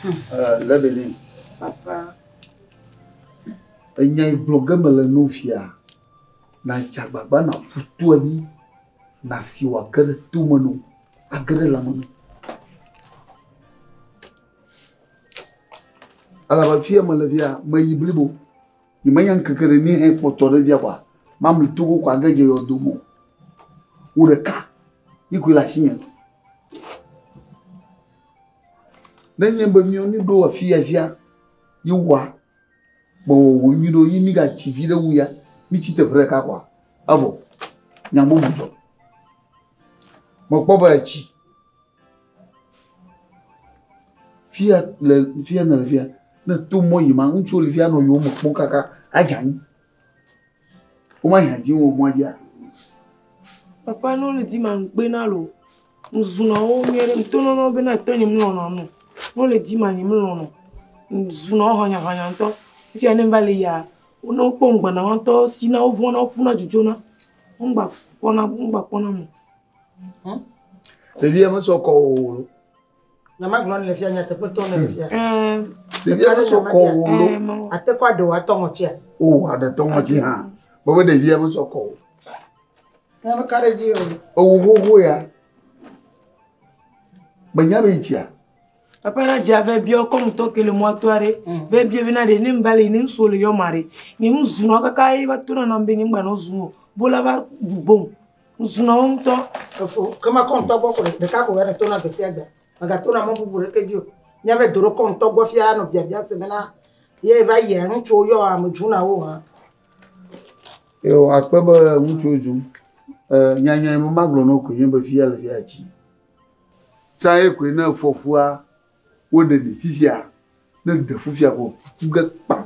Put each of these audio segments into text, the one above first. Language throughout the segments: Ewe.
Eh, Lebelin. Papa. Enya yi gblɔ ge mele no fia. Na dze agbagba na ƒu to anyi. Na si wòage ɖe to me no. Age ɖe lãme no. Elabe fiye mele fia, meyi blibo. Nyemenya ŋkeke ɖe ni hekpɔtɔ ɖe fia kɔa, mamli to go ko age dze yɔdo me o. Wò ɖeka yi koe le asinye. Ne enye be miwo nu ɖo afia fia yi woa, be wòwɔ nyui ɖo yi migatsi vi ɖe wu ya, mitsi teƒe ɖeka kɔa, evɔ. Nya bubu dzɔ. Mekpɔ be etsi. Fia le fia nèle fia ne to mɔ yi ma ŋutsuwo le fia nɔ yewo me kpɔm kaka adze anyi. Womayi ha dzi wo mɔa dzia. Papa ne wole dzi ma ŋugbe na lo. Ŋzunɔ wo nyuie ɖe ŋto nɔnɔ be na tɔnye melɔ̃nɔ nu. Ne wole dzi ma nye melɔ̃nɔ. Ŋzunɔ wo hɔnyahɔnya ŋtɔ. Fia ne ŋva le yia ne wokpɔ ŋgbe na wo ŋtɔ sina wo vɔ̃na wo ƒuna dzidzona. Ŋgba kpɔna ŋgba kpɔna mo. Hmm? Ɖevi ya mesɔ kɔ o. Nyama gblɔ le fia nyateƒe tɔ le fia. Ɖevi ya mesɔ kɔ o lo. Ate kɔ aɖewo atɔ ŋɔtia. O aɖe tɔ ŋɔti hã. Bɔbɔ ɖevi ya mesɔ kɔ o. Nyama ka ɖe dzi o. Ewu xoxo ya. Menya be itia. Papa na dzi ave biɔ kɔmu tɔ kele mɔ atɔ aɖe. Ve biɔ bena ɖe ne mbali ne ŋsu le yɔ ma ɖe. Ne ŋsu nɔ kaka ye va to na na be ne ŋgba nɔ zu o. Bola va gbom. Ŋusunɔwo ŋutɔ. Efo, ke mekɔ ŋutɔ gbɔ ko ɖeka ko ne tona gbe sia gbe. Megatona mɔ bubu ɖeke dzi o. Nya be do ɖo kɔ ŋutɔ gbɔ fia nɔ biabia se bena ye va yia ŋutsuwo yɔ ame dzunawo hã. Yo akpe be ŋutsuwo dzum. E nyanya me magblɔ no koe nye be fia le fia tsi. Tsaye koe ne efɔfua woɖe mi fifia, ne ɖe fifia ko ku ge kpam.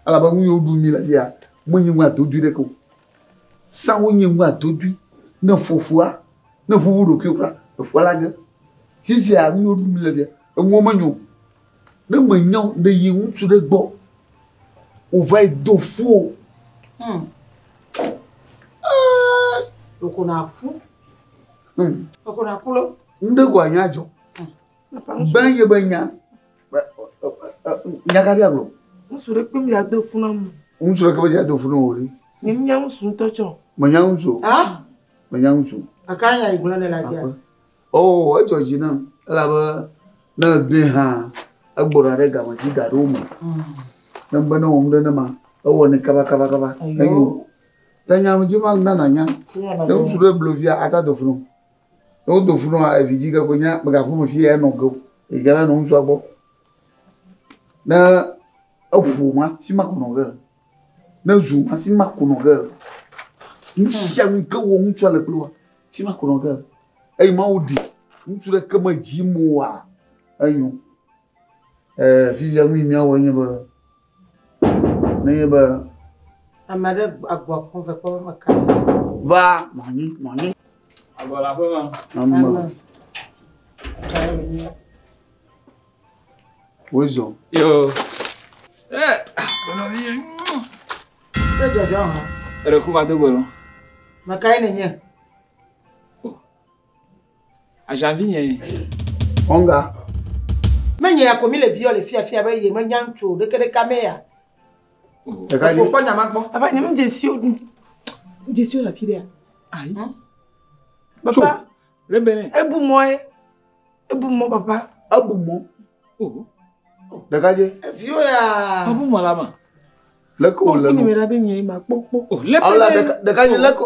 Elabe nu yiwo ɖum mi le fia, menye nu adodui ɖeke o. Sãwo nye nu adodui. Ne fɔ fua, ne ƒuƒu ɖokuiwo kura, efua la ge. Fifia nu yiwo ɖum mi le fia, enuwo menyo o. Ne menyo o, ɖe yi ŋutsu ɖe gbɔ wòva yi do fu o. Hmm. Ɖeko naku. Hmm. Ɖeko naku lɔ. Nu ɖe ko anya dzɔ. Gbɛ ye be nya. Nya ka bia gblɔ? Ŋutsu ɖe kpem ya do funu amu. Ŋutsu ɖe kpem ya do funu o ɖi. Nye nya ŋutsu ŋutɔ tsɔ. Me nya ŋutsu. Ha? Me nya ŋutsu. Aka nya yi gblɔ ne la dia. Oh, edzɔ dzi na. Ela be ne egbɛ hã egbɔna ɖe game dzi gaɖo me. Hmm. Ne be ne wɔm ɖe ne ma, ewɔ ne kaba kaba kaba. Enyo. Ta nya me dzi ma nana nya. Ne ŋutsu ɖe blo via ata do funu. Ne wodo ŋu nɔ evidzĩ ke kpoe nye mègaku nu fiye enɔ ge o. Eyi ke va nɔ ŋutsua gbɔ. Ne eƒo ma, fi ma ko nɔ ge le. Ne ezu ma, fi ma ko nɔ ge le. Nu sia nu yi ke wɔm ŋutsua le kple woa, fi ma ko nɔ ge le. Eye Mawu ɖi ŋutsu ɖe ke me dzi moa, enyo. Ɛɛ, fifia nu yi míawɔe nye be, nenye be. Ame aɖe agbɔ akpɔ ve kpɔ be meka ɖe. Va, mɔnyi, mɔnyi. Agbɔ le aƒe ma. Ame. Ame. Wezɔ. Yo. Ɛ, gbɔnɔ mi ye. Te dzɔdzɔ hã. Eɖe ku va do gbɔ lɔ. Meka ye nenye. Ajan vi nye. Ɔnga. Menye ya ko mi le biɔ le fia fia be ye me nya ŋutsu ɖeke ɖeke amee ya. Ɖeka dzi. Kpɔ nya ma gbɔ. Papa nye me dzesi o du. Dzesi o la fi ɖea. Ayi. Hm? Papa. Rebele. Ebu mɔ ye. Ebu mɔ papa. Ebu mɔ. Oh. Ɖeka dzi. Viwo ya. Ebu mɔ la ma. Leko le no. Kpɔ kpɔ nume la be nye ma kpɔ kpɔ. Oh leko. Awo la ɖeka ɖeka dzi leko.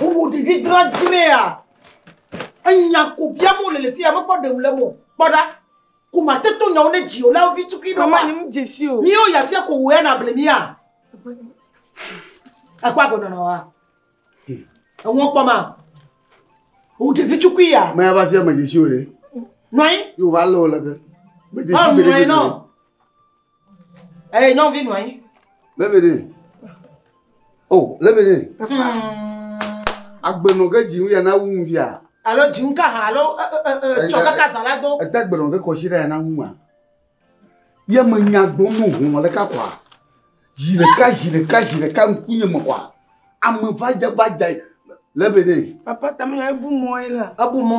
Wowu ɖevi dradzrɛa, enya ko biam wole le fia, mekpɔ ɖeŋu le mo. Kpɔ ɖa, ko mate to nyawo ne dzi o, la vi tukui ɖo. Mama, nyim dze si o. Míwo ya fia ko wò ya na ble mía. Ekpɔ agɔnɔ na wa. Eŋɔ kpɔ ma. Wò ɖevi tukui ya. Mɛ va fia me dze si o ɖe. Nɔi. Yo va lɔ le ke. Me dze si bele bele. Eye eh, nyɔnuvi nɔ anyi. Lebede. O, oh, lebede. Agbenɔ ke dzi ya na wu ŋuvia. Alo dzi ŋu ka ha alo tsɔ kaka zã la do. Ete agbenɔ ke kɔsi ɖe ya na wu ma. Ye me nya gbɔ mo ho mɔ ɖeka kɔa. Zi ɖeka zi ɖeka zi ɖeka ŋkunye me kɔa. Ame va dze va dze lebede. Papa tamina ebu mɔ ye la. Ebu mɔ.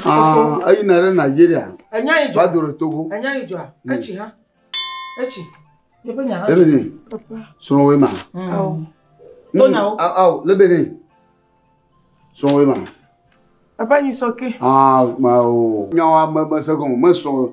Aa, eyina ɖe Nigeria. Enya yi dzɔ. Va do ɖe Togo. Enya yi dzɔa. Hmm. Etsi ha. Etsi. Yeƒe nya ha. Lebene. Srɔ̃woe ma. Hmm. Awo. Hmm. Tonawo. Awo. Lebene. Srɔ̃woe ma. Papa nyi sɔke. Aa, ma o. Nyawa me me se gɔme. Me srɔ̃.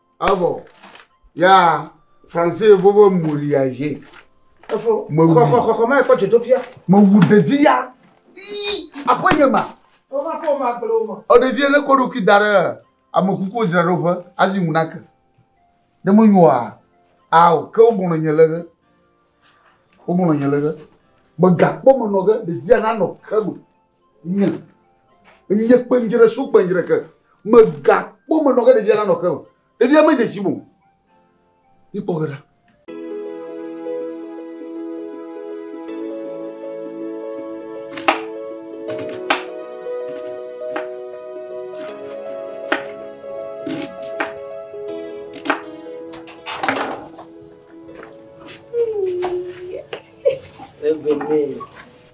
Evɔ ya français ye vovo moriage. Efo. Me wu. Kɔkɔ kɔkɔ ma ekɔ dzodoƒia. Me wu ɖevi ya. Ii akɔ nye ma. O ma ko ma gblɔ o ma. O ɖevi ne ko ɖokui da ɖe ame kuku dzra ɖo ƒe azi ŋu na ke. Ne me nyoa. Ao ke o bɔnɔ nye le ge. O bɔnɔ nye le ge. Me ga kpɔ me nɔ ge ɖevi ya na nɔ ke me. Nye, nye kpenjre su kpenjre ke. Megakpɔ menɔ ke ɖevia nanɔ ke o. Ɖevia medze tsi mo. Ikpɔ ge ɖa. Ebenee.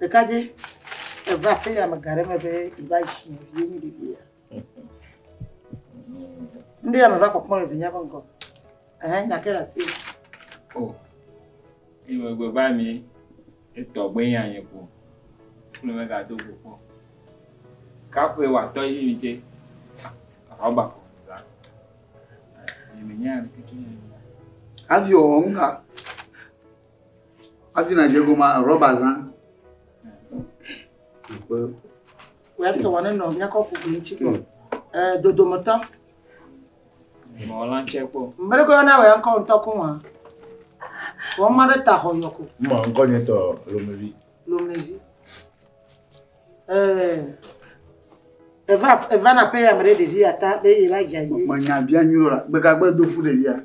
Ɖekadze eva aƒe ya me ga ɖe me be yeva yi si vie nye ɖevi ya. Ŋɖe ya meva kpɔkpɔ le vinya ƒe ŋgɔ. Ehe, nya ke le asi. O, ime gbe va mi etɔ gbe nya nye ko. Kple me ga do go kpɔ. Kaƒe wa tɔ yi mi tse. Ahɔ ba ko za. Ime nya ke tse. Avio ŋga. Adina dze goma rɔba zã. Akpe. Wòya tɔ wɔ ne nɔ míakɔ kuku ŋuti kpɔ. Ee, dodometɔ. Mɔla tse kpɔ. Mbele ko yɔna wòya ŋkɔ ŋutɔ ko wɔa. Wɔ ma ɖe ta xɔ yɔ ko. Mɔ ŋkɔ nye tɔ lomevi. Lomevi. Ee. Eva eva na pe ya me ɖe ɖevi ata be ye va dza yi. Menya bia nyuɖo la. Gbegagbe do fu ɖevia.